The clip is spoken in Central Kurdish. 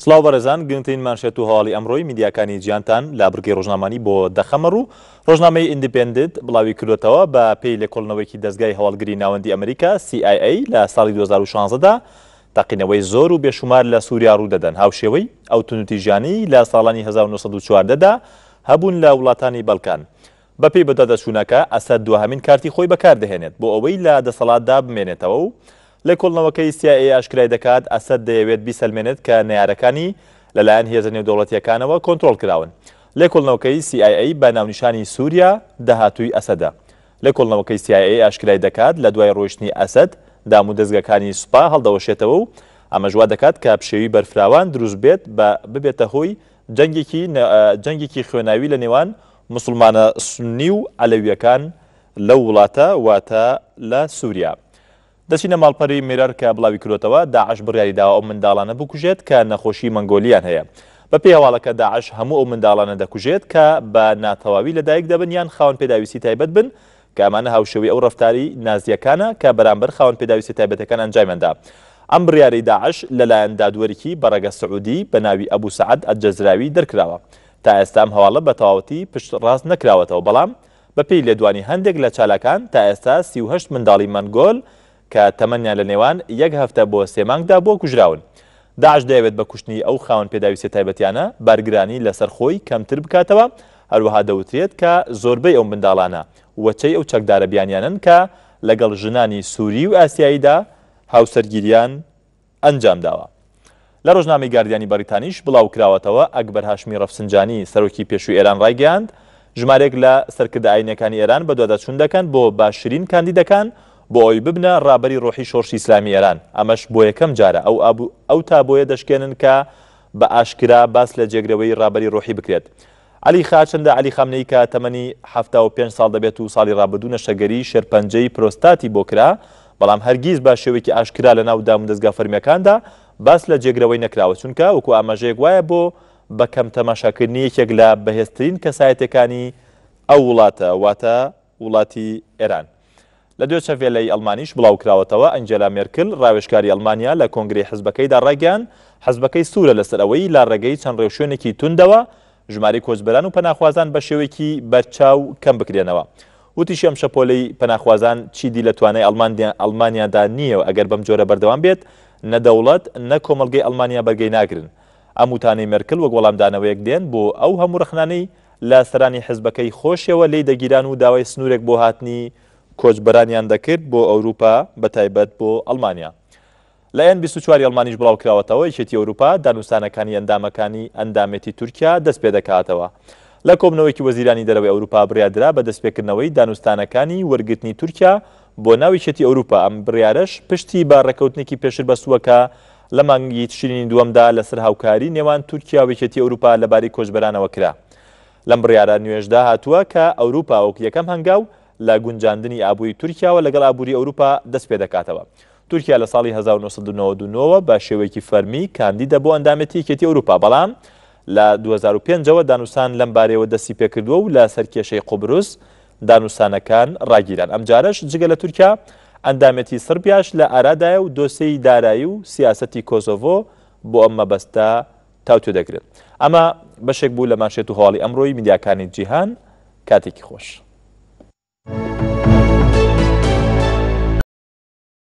سڵاو بەڕێزان گرنگترین مانشێت و هەواڵی ئەمڕۆی میدیاکانی جیانتان لا بڕگەی ڕۆژنامانی بۆ دەخەمە ڕوو ڕۆژنامەی ئیندیپندنت بڵاوی کردوتەوە بە پێی لێکۆڵنەوەیکی دەستگای هەواڵگری ناوەندی ئەمریکا CIA لە ساڵی 2016دا تەقینەوەی زۆر و بێشومار لە سووریا ڕوودەدەن هاوشێوەی ئەو تونوتیژانی لە ساڵانی 1940دا هەبوون لە وڵاتانی بەڵکان. بەپێی بەدواداچوونەکە، ئەسەد دوهەمین کارتی خۆی بەکاردەهێنێت بۆ ئەوەی لە دەسەڵاتدا بمێنێتەوە و لێکۆڵنەوەکەی سی ئای ئەی ئاشکرای دەکات، ئەسەد دەیەوێت بیسەلمێنێت کە نەیارەکانی لەلایەن هێزە نێودەوڵەتییەکانەوە کۆنترۆڵ کراون. لێکۆڵنەوەکەی سی ئای ئەی بە ناونیشانی سووریا، داهاتووی ئەسەدە. لێکۆڵنەوەکەی سی ئای ئەی ئاشکرای دەکات، لە دوای ڕۆیشتنی ئەسەد، دامودەزگاکانی سوپا هەڵدەوەشێتەوە و ئەمەش وا دەکات کە پشێوی بەرفراوان دروست بێت بە ببێتە هۆی جەنگێکی جەنگێکی خوێناوی لە نێوان موسڵمانە سوننی و عەلەویەکان لەو وڵاتە واتە لە سوریا دەچینە ماڵپەری میرەر کە بڵاویکرۆتەوە داعش بڕیاری داوە ئەو منداڵانە بکوژێت کە نەخۆشی مەنگۆلیان هەیە بە پێی هەواڵەکە داعش هەموو ئەو منداڵانە دەکوژێت کە بە ناتەواوی لە دایک دەبن یان خاوەن پێداویستی تایبەت بن کە ئەمانە هاوشێوەی ئەو ڕەفتاری نازیەکانە کە بەرامبەر خاوەن پێداویستە تایبەتەکان ئەنجامیان دا ئەم بڕیارەی داعش لەلایەن دادوەرێکی بەڕەگە سعودی بە ناوی ئەبو سەعد ئەلجەزراوی دەرکراوە تا ئێستا ئەم هەواڵە بە تەواوەتی پشت ڕاست نەکراوەتەوە، بەڵام بە پێی لێدوانی هەندێک لە چالاکان تا ئێستا سی و هەشت منداڵی مەنگۆل کە تەمەنیان لە نێوان یەک هەفتە بۆ سێ مانگ دا بووە کوژراون. داعش دەیەوێت بە کوشتنی ئەو خاوەن پێداویستیە تایبەتیانە بارگرانی لە سەر خۆی کەمتر بکاتەوە، هەروەها دەوترێت کە زۆربەی ئەو منداڵانە وەچەی ئەو چەکدارە بیانیانەن کە لە گەڵ ژنانی سوری و ئاسیایی دا هاوسەرگیریان ئەنجامداوە. لە ڕۆژنامەی گاردیانی بەڕیتانیش بڵاوکراوەتەوە، ئەکبەر هاشمی ڕەفسنجانی، سەرۆکی پێشووی ئێران ڕایگەیاند، ژمارێک لە سەرکردە ئایینییەکانی ئێران بەدواداچوون دەکەن بۆ باشترین کاندیدەکان بۆ ئەوەی ببنە ڕابەری ڕۆحی شۆڕشی ئیسلامیی ئێران، ئەمەش بۆ یەکەم جارە ئەو ئەو تابۆیە دەشکێنن کە بە ئاشکرا باس لە جێگرەوەی ڕابەری ڕۆحی بکرێت. عەلی خاچندە عەلی خامنەیی کە تەمەنی حەفتا و پێنج ساڵ دەبێت و ساڵی رابردوو نەشتەگەریی شێرپەنجەی پرۆستاتی بۆ کرا، بەڵام هەرگیز بە شێوەیەکی ئاشکرا لەناو دامودەزگا فەرمییەکاندا باس لە جێگرەوەی نەکراوە، چونکە وەکو ئاماژەیەک وایە بۆ بە کەم تەماشاکردنی یەکێک لە بەهێزترین کەسایەتییەکانی ئەو وڵاتە، واتە، وڵاتی ئێران. لە دۆچە ڤێلەی ئەڵمانیش بڵاوکراوەتەوە، ئەنجێلا مێرکل، ڕاوێژکاری ئەڵمانیا لە کۆنگرەی حزبەکەیدا ڕایگەیاند، حزبەکەی سوورە لەسەر ئەوەی لە ڕێگەی چەند ڕێوشوێنێکی توندەوە ژمارەی کۆچبەران و پەناخوازان بە شێوەیەکی بەرچاو کەم بکرێنەوە. وتیشی ئەم شەپۆلەی پەناخوازان چیدی لە توانای ئەڵمانیادا نییە و ئەگەر بەم جۆرە بەردەوام بێت نە دەوڵەت نە کۆمەڵگەی ئەڵمانیا بەرگەی ناگرن. ئەم وتانەی مێرکل وەک وەڵامدانەوەیەک دێن بۆ ئەو هەموو ڕەخنانەی لە سەرانی حزبەکەی خۆشیەوە لێی دەگیران و داوای سنوورێک بۆ هاتنی کۆچبەرانیان دەکرد بۆ ئەوروپا بە تایبەت بۆ ئەڵمانیا. لە ەن بیست و چوار ی ئەڵمانیش بڵاوکراوەتەوە یەکێتی ئەوروپا دانوستانەکانی ئەندامەکانی ئەندامێتی تورکیا دەست پێدەکاتەوە. لە کۆبنەوەیەکی وەزیرانی دەرەوەی ئەوروپا بڕیار درا بە دەستپێکردنەوەی دانوستانەکانی وەرگرتنی تورکیا بۆ ناو یەکێتی ئەوروپا ئەم بڕیارەش پشتی بە ڕێکەوتنێکی پێشر بەستووە کە لە مانگی تشرینی دووەمدا لەسەر هاوکاری نێوان تورکیا و یەکێتی ئەوروپا لەبارەی کۆچبەرانەوە کرا. لەم بڕیارە نوێشدا هاتووە کە ئەوروپا وەک یەکەم هەنگاو لە گونجاندنی ئابووری تورکیاوە لەگەڵ ئابووری ئەوروپا دەست پێدەکاتەوە. تورکیا لە ساڵی هەزار و نۆ سەد و نەوەد و نۆ وە بە شێوەیەکی فەرمی کاندیدە بۆ ئەندامێتی یەکێتی ئەوروپا بەڵام لە دوو هەزار و پێنج ەوە دانوسان لەم بارەیەوە دەستی پێکردووە و لە سەر کێشەی قوبرس دانوستانەکان ڕاگیران، ئەمجارەش جگە لە تورکیا، ئەندامێتی سڕبیاش لە ئارادایە و دۆسێی دارایی و سیاسەتی کۆسۆڤۆ بۆ ئەم مەبەستە تاوتوێ دەگرن. ئەمە بەشێک بوو لە مانشێت و هەواڵی ئەمڕۆی میدیاکانی جیهان. کاتێکی خۆش.